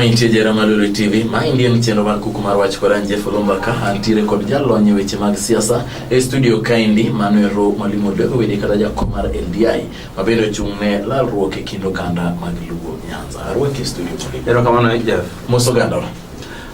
Mantie jera Malulu TV, ma indie ni chenro mar kuku mar wach koran Jeff Olomba ka antiere kod jalony e weche mag siasa e studio kaendi Manuel Ro Mwalimu Odego Wede kata jakom mar LDI ma bende ochung' ne lalruok e kind oganda mag Luo Nyanza. Arwaki e studio Mwalimu. Erokamano Jeff. Mos oganda.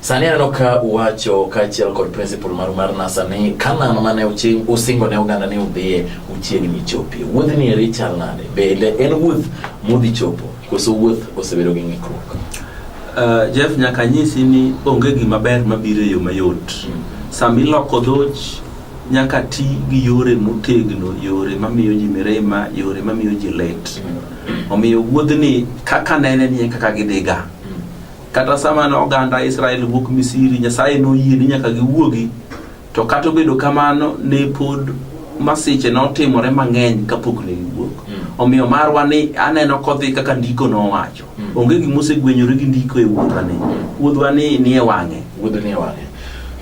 Sani aneno ka uwacho kaachiel kod principal maru mar NASA ni Kanaan mane usingo ne oganda ni udhiye uchiegni chopie. Wuodhni eri chal nade? Bende en wuoth mudhi chopo koso wuoth osebedo gi ng'ikruok? Uh, Jeff nyaka nyisi ni onge gima ber mabiro e yo mayot. Hmm. Sama iloko dhoch nyaka ti gi yore motegno, yore mamiyo ji mirima, yore mamiyo ji lit. Hmm. Omiyo wuodhni kaka nene ni e kaka gidhiga. Kata sama ne oganda Israel wuok Misiri, Nyasaye noyie ni nyaka giwuogi, to kata obedo kamano ne pod masiche notimore mang'eny kapok ne giwuok. Omiyo marwa ni aneno kodhi kaka ndiko nowacho. Onge gima osegwenyore gi ndiko e wuodhwani. Wuodhwani nie wang'e. wuodh ni wang'e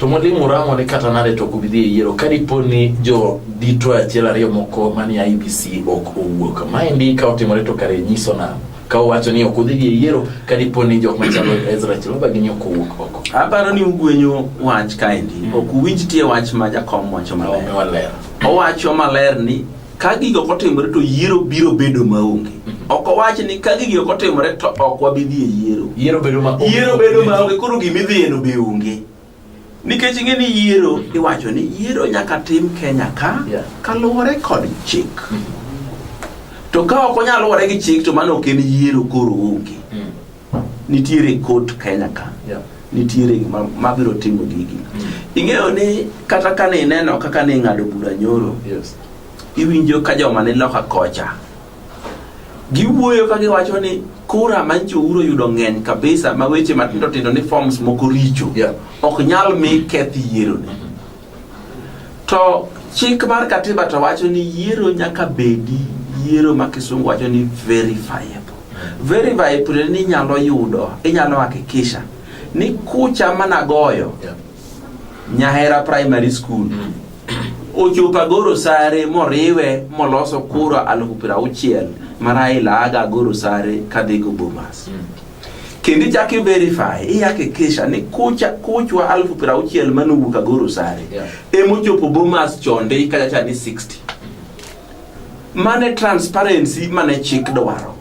to mwalimu ramo ni kata nade to ok ubi dhi e yiero ka dipo ni jo dito achiel ariyo moko manie IBC ok owuok maendi ka otimore to kare nyiso nang'o ka uwacho ni ok udhi dhi e yiero ka dipo ni jok machalo Ezra Chiloba gi nyoko wuok oko. Aparo ni ugwenyo wach kaendi. Mm. Ok uwinj tie wach ma jakom wacho maler. Owacho maler ni ka gigo kotimore to yiero biro bedo maonge. Mm. ok owach ni ka gigi ok otimore to ok wabi dhi e yiero yiero bedo ma onge koro gima idhiyeno be onge nikech ing'e ni yiero iwacho ni yiero nyaka tim Kenya ka Yeah. kaluwore kod chik to ka ok onyal luwore gi chik to mano ok en yiero koro onge nitiere kot Kenya ka Yeah. nitiere ma- mabiro timo gigi ing'eyo ni kata kane ineno kaka ne ing'ado bura nyoro Yes. iwinjo ka joma ni loka kocha Giwuoyo ka giwacho ni kura ma nyicho uro yudo ng'eny kabisa ma weche matindo tindo ni forms moko richo yeah. ok nyal mi keth yiero ni. To chik mar katiba to wacho ni yiero nyaka bedi yiero ma kisungu wacho ni verifiable. Verifiable ni nyalo yudo, inyalo hakikisha ni kucha managoyo yeah. Nyahera primary school mm. ochopo Agoro Sare moriwe moloso kura alufu piero auchiel ma Raila aga Agoro Sare kadhi go Bomas. Kendo ichako i verify, ihakikisha ni kucha kuchwa alufu piero auchiel mane owuok Agoro Sare Yeah. ema ochopo Bomas chonde ikacha cha ni 60. Mane transparency mane chik dwaro.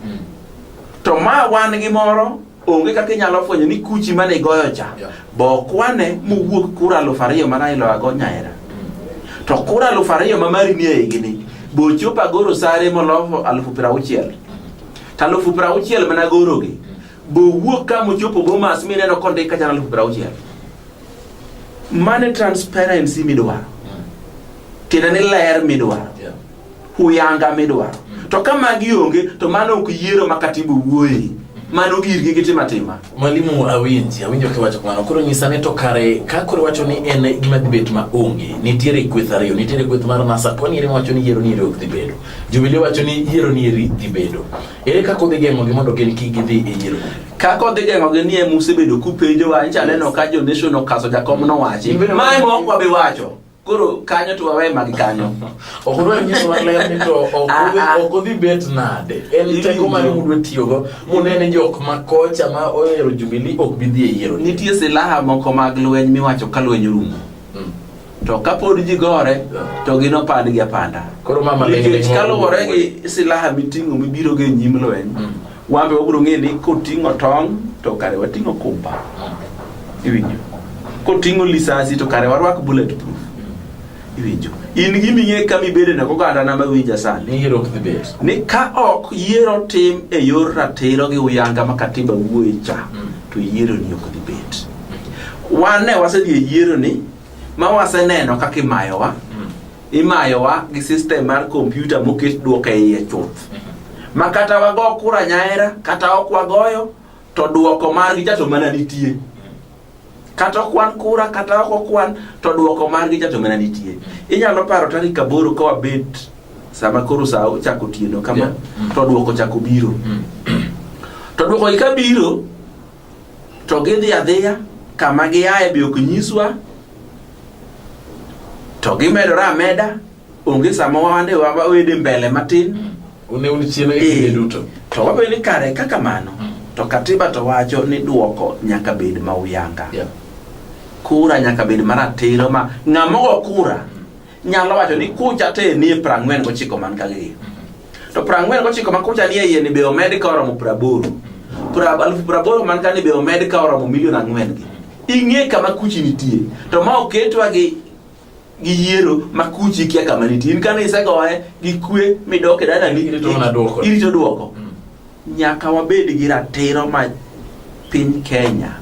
To ma wan gi moro onge kaka inyalo fwenyo ni kuchi mane igoyo cha yeah. bokwane mowuok kura alufu ariyo mana iloyago nyaera mm. to kura alufu ariyo ma mari nie higini bochopo agoro sare molofo alufu piero auchiel to alufu piero auchiel mana gorogi mm. bowuok ka mochopo bomas mineno kondik kachana alufu piero auchiel mane transparency midwaro mm. tiende ni ler midwaro yeah. huyanga midwaro mm. to ka magi onge to mano ok yiero ma katiba wuoye mano girgi gitim atima mwalimu awinji awinjo kiwacho kamano koro nyisa ni to kare ka koro wacho ni en gima dhi bet ma onge nitiere kweth ariyo nitiere kweth mar nasa koni eri wacho ni yiero ni eri ok dhi bedo jubilee wacho ni yiero ni eri dhi bedo ere kaka odhi geng'ogi mondo gin kik gidhi e yiero kako dhi geng'o gi nie musebedo kupenjowa incha neno ka jo nation okaso jakom nowachi mae mok wabi wacho koro kanyo to wawe mag kanyo ok odwa nyiso maler ni to ok odhi- Ah, ah. ok odhi bet nade en Iwinjo. teko mane mudwa tiyogo munene jok ma kocha ma ohero jubili ok bi dhi e yiero nitie silaha moko mag lweny miwacho ka lweny orumo Mm. to kapod ji gore to gin opand gi apanda koro mama nikech kaluwore gi silaha miting'o mibirogo e nyim lweny Mm. Wambe wabiro ng'e ni koting'o tong' to kare wating'o kumba. Iwinjo? Koting'o lisasi to kare warwak bullet proof. Iwinjo? In giming'e kama ibede na koganda na mawinja sani. Ni hero the base. Ni ka ok yiero tim e yor ratiro gi uyanga ma katiba wuoye cha mm. to yiero ni ok dhi bet. Wan ne wasedhi e yiero ni ma waseneno kaka imayowa. Mm. imayowa gi system mar kompyuta moket duoko e iye chuth ma kata wago kura nyaera kata ok wagoyo to duoko margi cha to mana nitie kata okwan kura kata ok okwan to duoko margi cha to mana nitie inyalo paro tarik aboro ka wabet sama koro sa ochako otieno kama Yeah. Mm. to duoko chako biro Mm. to duoko gi ka biro to gidhi adhiya kama giaye be ok nyiswa to gimedore ameda onge sama wande wawede mbele matin une un chien e kinde Eh. duto to wabedo ni kare kaka mano to katiba to wacho ni duoko nyaka bed ma uyanga Yeah. kura nyaka bed maratiro ma ng'ama ogo kura nyalo wacho ni kucha te nie prang'wen gochiko man ka gi to prang'wen gochiko ma kucha nie iye ni be omed ka oromo praboro Pra- alufu praboro man ka ni be omed ka oromo milion ang'wen gi ing'e kama kuchi nitie to ma oketwa gi gi yiero ma kuchi kia kama nitie in kane isegoye gi kwe midoke dalani Irito mana dwoko. irito dwoko Nyaka wabed gi ratiro ma piny Kenya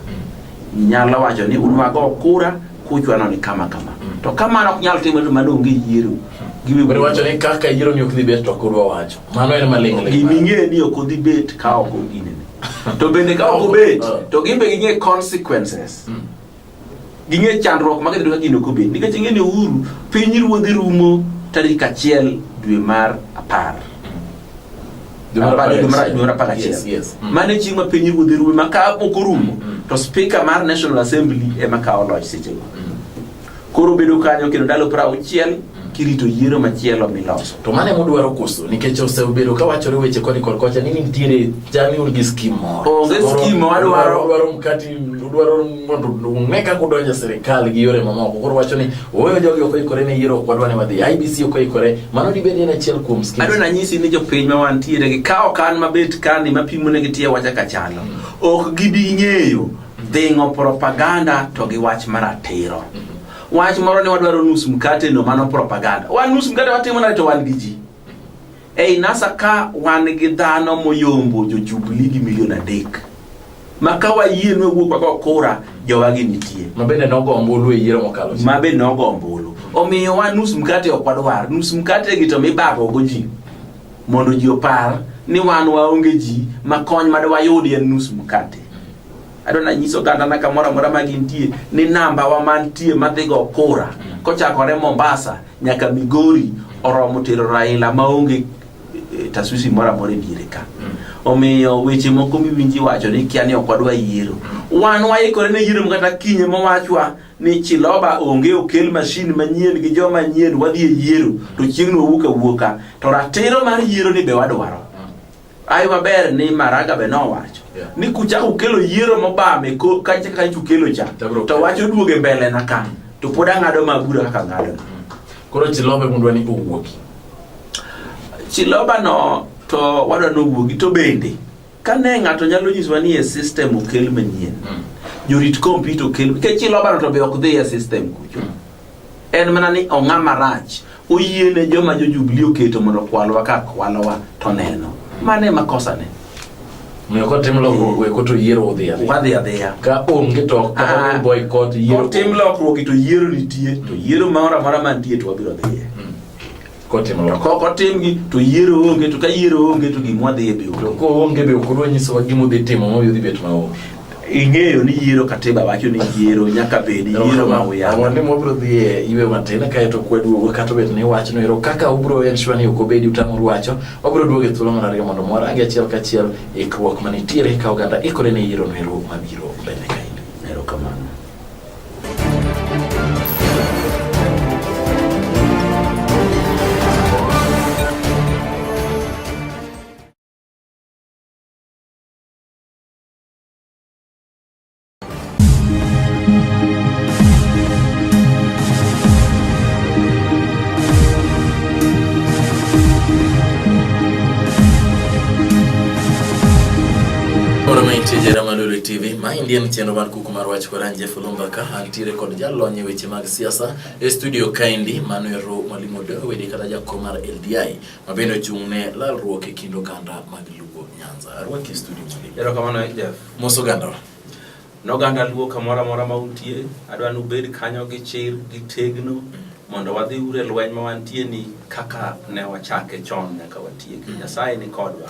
nyalo wacho ni unwago kura kuchwano ni kama kama. Mm. To kamano ok nyal timore mano onge yiero. Giwe wacho ni kaka yiero ni ok dhi bet to kurwa wacho. Mano en maling' ling'. Gimi ng'e ni ok dhi bet ka ok ginene. To bende ka ok obet ah. to gimbe ging'e consequences. Mm. ging'e chandruok ma gidhido ka gino kobed nikech ing'e ni uhuru piny ruodhi rumo tarik achiel dwe mar apar Dwe mar apar Apar- dwe mar- gachiel. dwe mar apar Yes, gachiel yes. Mm. mane chieng' ma piny ruodhi rumo ma ka ok orumo Mm. to spika mar national assembly ema kawo loch sechego koro bedo kanyo kendo ndalo piero auchiel kirito yiero machielo miloso. To mane mudwaro koso nikech osebedo ka wachore weche koni kod kocha ni nitiere jami un gi skim moro. Onge skim ma wadwaro. Udwaro mkati, udwaro mondo ung'e kaka udonjo sirkal gi yore mamoko. Koro wacho ni ooyo jogi ok oikore ne yiero ok wadwa ne wadhi. IBC ok oikore. Mano dibed en achiel kuom skim. Adwa nanyisi ni jopiny ma wantiere gi ka okan mabet kani mapimo ne gitie wacha kachalo. Mm. Ok gibi ng'eyo dhingo propaganda to gi wach maratiro. Mm. Wach moro ni wadwaro nus mkate no mano propaganda. Wan nus mkate watimo na to wan gi ji. Ei nasa ka wan gi dhano moyombo jo Jubilee gi milion adek. Ma ka wayie nwe wuok wago kura jowa gi nitie. Ma bende nogo ombulu e yiero mokalo. Ma bende nogo ombulu. Omiyo wan nus mkate ok wadwar. Nus mkate gi to mibago go ji. Mondo ji opar ni wan waonge ji ma kony madwayudi en nus mkate. adwa nanyiso ogandana kamoro amora ma gintie ni nambawa mantie madhigo kura kochakore mombasa nyaka migori oromo tero raila maonge eh, taswisi moro amora e diere ka omiyo weche moko miwinji wacho ni kia ni ok wadwa yiero wan waikore ne yiero kata kinye mowachwa ni chiloba onge okel mashin manyien gi joma nyien wadhi e yiero to chieng'no wawuok awuoka to ratiro mar yiero ni be wadwaro Ai maber ni Maraga be nowacho yeah. ni kuchako ukelo yiero mobam e kacha ka ukelo cha to wacho duoge mbele na kan to pod ang'ado mabura kaka ng'ado mm. koro chilobe mundwa ni owuoki chiloba no to wadwa ni owuogi to bende kane ng'ato nyalo nyiswa ni e system okel manyien mm. jorit kompyuta okel nikech chiloba no to be ok dhi e system kucho mm. en mana ni ong'a marach oyie ne joma jojubli oketo mondo kwalwa ka kwalowa to neno mano ema kosane Omiyo kotim lokruok we koto yiero odhi adhi. wadhi adhiya Ka onge to ok Ah. kata boycott yiero. otim lokruok to yiero nitie to yiero moro amora mantie to wabiro dhiye Kotim to lokruok. kok otimgi to yiero onge to ka yiero onge to gimwa dhiye To biwuok koonge be ok odwa nyisowa gima odhi timo ma odhi bet maonge. ing'eyo ni yiero katiba wacho ni yiero nyaka bed yiero ma uyanga ni mwabro dhi e iwe matin kae to kwaduogo kata obed ni wachno ero kaka ubro en shwa ni ok obedi utamoru wacho wabro duogo e thuolo mar ariyo mondo mwarangi achiel kachiel ikruok manitiere ka oganda ikore ne yiero no ero mabiro mbele kaendi erokamano ma endi en chenro mar kuku mar wach Koran Jeff Olumba ka antiere kod jalony e weche mag siasa e studio kaendi Manuel Ro Mwalimu Dewedi kata jakom mar LDI. ma bende ochung' ne lalruok e kind oganda mag Luo Nyanza. Arwaki studio mali. Erokamano Jeff. Mos ogandawa. Noganda Luo kamoro amora ma untie, adwa ni ubed kanyo gi chir gi tegno mondo wadhi ure lweny ma wantie ni kaka ne wachake chon nyaka watieki. Nyasaye ni kodwa.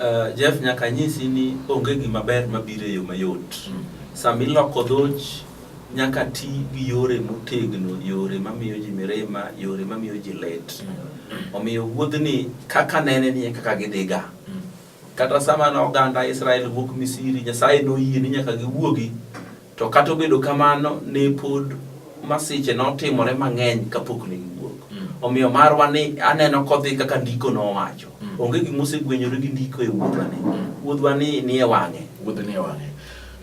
Uh, Jeff nyaka nyisi ni onge gima ber mabiro e yo mayot. Mm. Sama iloko dhoch nyaka ti gi yore motegno, yore mamiyo ji mirima, yore mamiyo ji let. Mm. Omiyo wuodhni kaka nene ni e kaka gidhiga. Mm. Kata sama ne oganda Israel wuok Misiri, Nyasaye noyie ni nyaka giwuogi To kata obedo kamano, ne pod masiche notimore mang'eny kapok ne giwuok. Mm. Omiyo marwa ni aneno kodhi kaka ndiko nowacho. Mm. Onge gima osegwenyore gi ndiko e wuodhwa ni. Mm. Wuodhwa ni ni e wang'e. Wuodh ni e wang'e.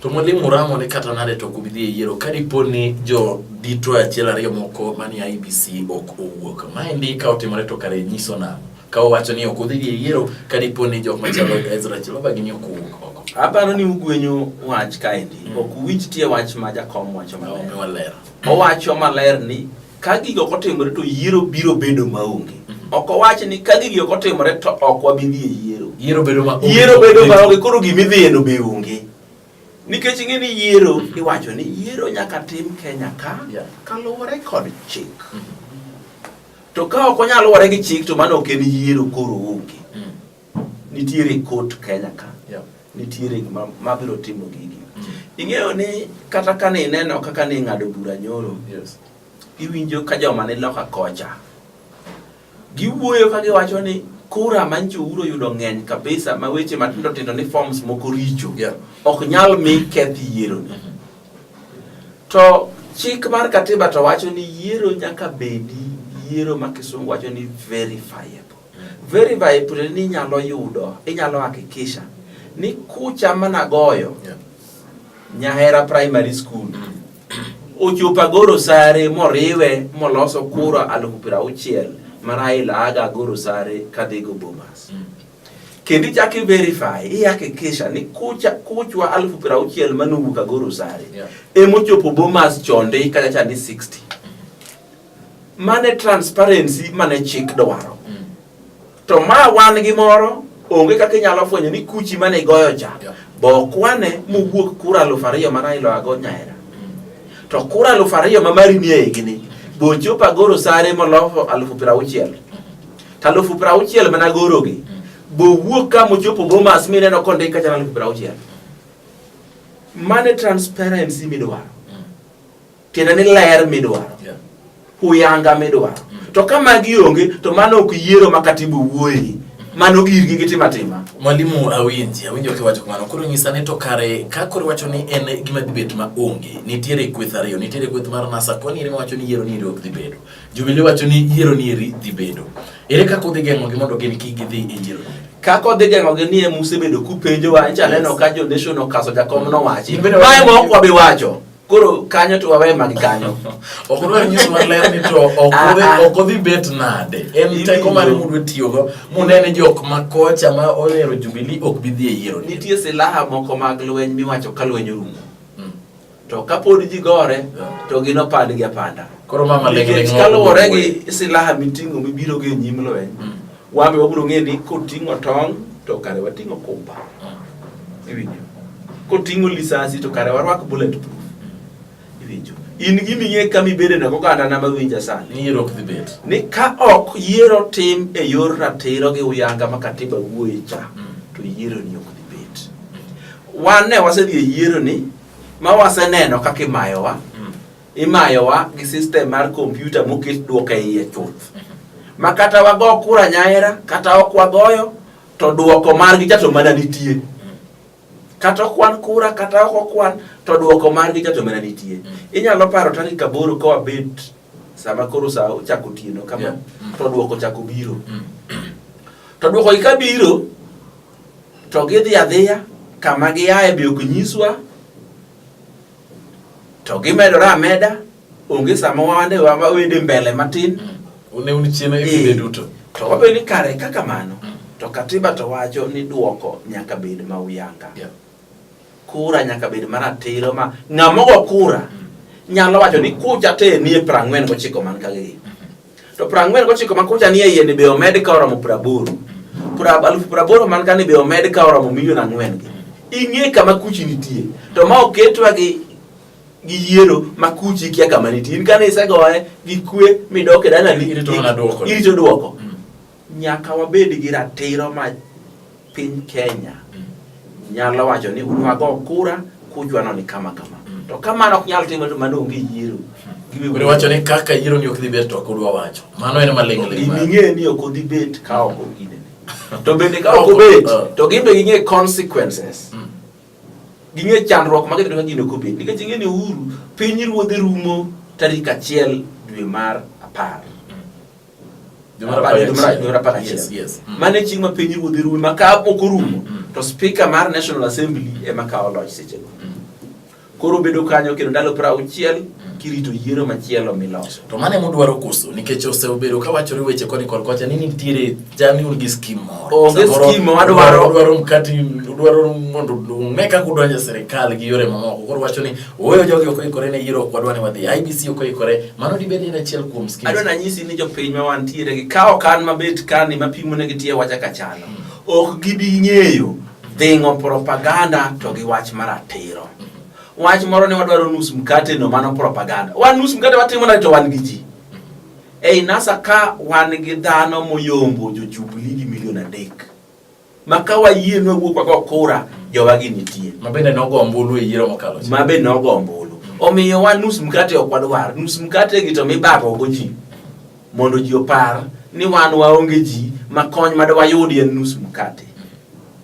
To mwalimu Murang'o ni kata nade to kubidhi e yiero ka dipo ni jo dito achiel ariyo moko manie IBC ok owuok. Maendi ka otimore to kare nyiso nang'o? ka owacho ni ok udhi gi yiero ka dipo ni jok machalo Ezra Chiloba gini ok uwuok oko. Aparo ni ugwenyo wach kaendi, mm. ok uwinj tie wach ma jakom wacho maler. Owacho maler ni ka gigi ok otimore to yiero biro bedo maonge. Mm-hmm. Ok owach ni ka gigi ok otimore to ok wabi dhi e yiero. Yiero bedo maonge. Yiero bedo maonge koro gima idhiyeno be onge. Nikech ing'e ni yiero mm-hmm. iwacho ni yiero nyaka tim Kenya ka kaluwore kod chik. Mm-hmm. To ka ok onyal luwore gi chik to mano ok en yiero koro onge. Mm. Nitiere court Kenya ka. Yeah. Nitiere ma, ma biro timo gigi. Mm. Ing'eyo ni kata ka ni neno kaka ni ng'ado bura nyoro. Yes. Iwinjo ka joma ni loka kocha. Giwuoyo ka giwacho ni kura ma nyicho uro yudo ng'eny kabisa ma weche matindo tindo ni forms moko richo. Yeah. Ok nyal mi keth yiero ni. Mm -hmm. To chik mar katiba to wacho ni yiero nyaka bedi yiero ma kisungu wacho ni verifiable. Verifiable ni inyalo yudo, inyalo hakikisha ni kucha mana goyo yeah. Nyahera Primary School mm. ochopo Agoro Sare moriwe moloso kura alufu piero auchiel ma Raila aga Agoro Sare kadhigo Bomas. Mm. kendo ichak i-verify ihakikisha ni kucha kuchwa alufu piero auchiel manowuok Agoro Sare Yeah. emochopo Bomas chonde ikacha cha ni 60 mane transparency mane chik dwaro Mm. to ma wan gi moro onge kaka inyalo fwenyo ni kuchi mane igoyo cha Yeah. bokwane mowuok kura alufu ariyo mana iloago nyaera Mm. to kura alufu ariyo ma mari ni eigini bochopo Agoro Sare molofo alufu piero auchiel to alufu piero auchiel mana gorogi bowuok ka mochopo Bomas mineno kondik kachana alufu piero auchiel mane transparency midwaro tiende ni ler midwaro huyanga midwaro mm. to ka magi onge to mano ok yiero ma katibu wuoyi mano girgi gitima tima mwalimu awinji awinjo kiwacho kamano koro nyisa ni to kare ka koro wacho ni en gima dhi bet ma onge nitiere kweth ariyo nitiere kweth mar nasa koni ere mawacho ni yiero ni ere ok dhi bedo Jubili wacho ni yiero ni eri dhi bedo. Ere kaka udhi geng'ogi mondo gin kik gidhi e yiero? kaka odhi geng'ogi ni ema usebedo kupenjowa nyicha neno ka jo nation okaso jakom nowachi mae ma ok wabi wacho koro kanyo to wawe mag kanyo ok odwar nyiso maler ni to ok ah, ah. odhi bet nade en teko mare mudwe tiyogo munene jok ma kocha ma ohero jubili ok bi dhi e yiero nitie silaha moko mag lweny miwacho ka lweny orumo to kapod ji gore to ginopand gi apanda koro mama nikech kaluwore gi silaha miting'o mibiro gi nyim lweny mm. wambe wabiro ng'e ni koting'o tong' to kare wating'o kumba mm. iwinjo koting'o lisasi to kare warwak bullet proof mm. iwinjo in giming'e ka mibede na oganda na mawinja sani ni ka ok yiero tim e yor ratiro gi uyanga ma katiba wuoye cha to yiero ni ok dhi bet wan ne wasedhi e yiero ni ma waseneno kaka imayowa mm. imayowa gi system mar kompyuta moket duoko e iye chuth mm-hmm. ma kata wago kura nyaera kata ok wagoyo to duoko margi cha to mana nitie mm. kata okwan kura kata ok okwan to duoko margi cha to mana nitie inyalo paro tarik aboro ka wabet sama koro sa ochako otieno kama yeah. to dwoko chako biro mm. to dwoko gi ka biro to gidhi adhiya kama giaye be ok nyiswa to gimedore ameda onge sama wande wawende mbele matin mm. une un chiena e kinde eh. duto to wabedo ni kare kaka mano mm. to katiba to wacho ni dwoko nyaka bed ma uyanga yeah. Kura nyaka bed maratiro ma ng'ama ogo kura nyalo wacho ni kucha te nie prang'wen gochiko man kagegi. To prang'wen gochiko ma kucha nie iye ni be omed ka oromo praboro. Alufu praboro man ka ni be omed ka oromo milion ang'wen gi. Ing'e kama kuchi nitie. To ma oketwa gi gi yiero ma kuchi kia kama nitie. In kane isegoye gi kwe midok e dalani irito duoko. Mm. Nyaka wabed gi ratiro ma piny Kenya mm. nyalo wacho ni un wago kura kujwano ni kama kama. Mm. To kamano ok nyal timore to mano onge yiero. Mm. Kure wacho ni kaka yiero ni ok dhi bet to ok udwa wacho. Mano en maling' ling'. Gini ng'e ni ok odhi bet ka ok ogine. To bende ka ok obet uh. to gin be ging'e consequences. Mm. Ging'e chandruok ma gidhi ka gino ok obet. Nikech ing'e ni uhuru piny ruodhe rumo tarik achiel dwe mar apar. mane chieng' ma piny ruodhi rume ma ka ok orumo mm. to speaker mar national assembly ema kawo loch sechego mm. koro obedo kanyo kendo ndalo pra auchiel mm. kirito yiero machielo miloso to mane mudwaro koso nikech osebedo ka wachore weche koni kod kocha ni nitiere jami un gi skim moro onge skim wadwaro dwaro mkati dwaro mondo ung'e kaka udonjo e sirikal gi yore mamoko koro wacho ni Ooyo jogi ok oikore ne yiero ok wadwa ni wadhi. IBC ok oikore. Mano dibed en achiel kuom skills. Adwa nanyisi ni jopiny ma wantiere gi kawo kan mabet kani mapimo ne gitie wacha kachano. Mm. Ok gibi ng'eyo dhing'o propaganda to gi wach maratiro. Wach moro ni wadwaro nus mkate no mano propaganda. Wan nus mkate watimo na to wan gi ji. Ei NASA ka wan gi dhano moyombo jo Jubilee gi milion adek. ma ka wayie ni wawuok wago kura jowagi nitie ma bende nogo ombulu e yiero mokalo ma bende nogo ombulu omiyo wa nus mkate ok wadwar nus mkate gi to mibagogo ji mondo ji opar ni wan waonge ji ma kony ma dwayudi en nus mkate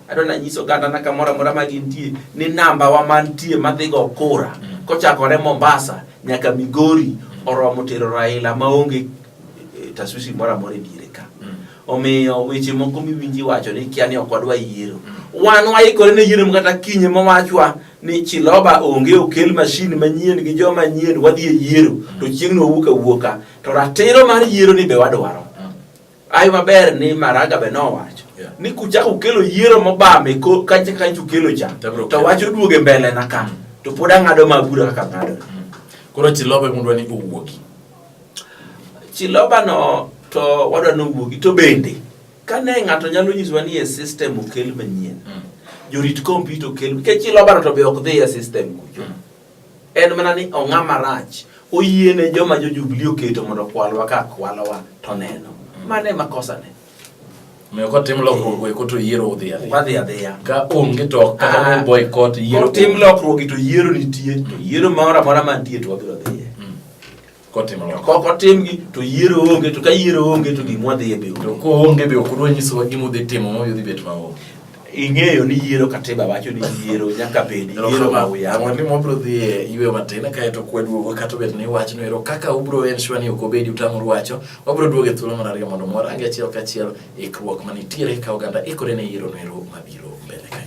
adwa nanyiso ogandana kamoro amora ma gintie ni namba wa mantie madhigo kura kochakore mombasa nyaka migori oromo tero raila maonge eh, taswisi moro amora e diere ka Omiyo weche moko miwinji wacho ni kia ni ok wadwa yiero. Wan waikore ne yiero kata kinye mawachwa ni Chiloba onge okel mashin manyien gi joma nyien wadhi e yiero to chieng'no wawuok awuoka. To ratiro mar yiero ni be wadwaro. Ayo maber ni Maraga be nowacho ni kuchako ukelo yiero mobame kacha kacha ukelo cha to wach oduoge mbele na ka to pod ang'ado ma bura kaka ng'ado. Koro Chiloba emudwa ni owuogi. Chilobano to wadwa nowuogi to bende kane ng'ato nyalo nyisowa ni e system okel manyien mm. jorit kompyuta okel nikech ilobaro to be ok dhi e system kucho mm. en mana ni ong'a marach oyiene joma jo Jubilee oketo mondo kwalwa ka kwalowa to neno mm. mane makosane Omiyo kotim lokruok eko to yiero udhi adhiya. Wadhi adhiya. Ka onge to ok kata Ah. boycott yiero. Kotim lokruok to yiero nitie, to yiero moro amora mantie to wabiro dhiye. Kotim To lokruok. kok otimgi to yiero onge, to ka yiero onge to gimwa dhiye be To onge. koonge be ok udwa nyisowa gima udhi timo ma udhi bet maonge. ing'eyo ni yiero katiba wacho ni yiero nyaka bedi yiero ma uya ang'o ni mwabro dhi e yweyo matin kae to kwe duogo kata obed ni wach no ero kaka ubro en shwa ni ok obedi utamoru wacho wabro duogo e thuolo mar ariyo mondo mwarange achiel kachiel ikruok manitiere ka oganda ikore ne yiero no ero mabiro mbele kae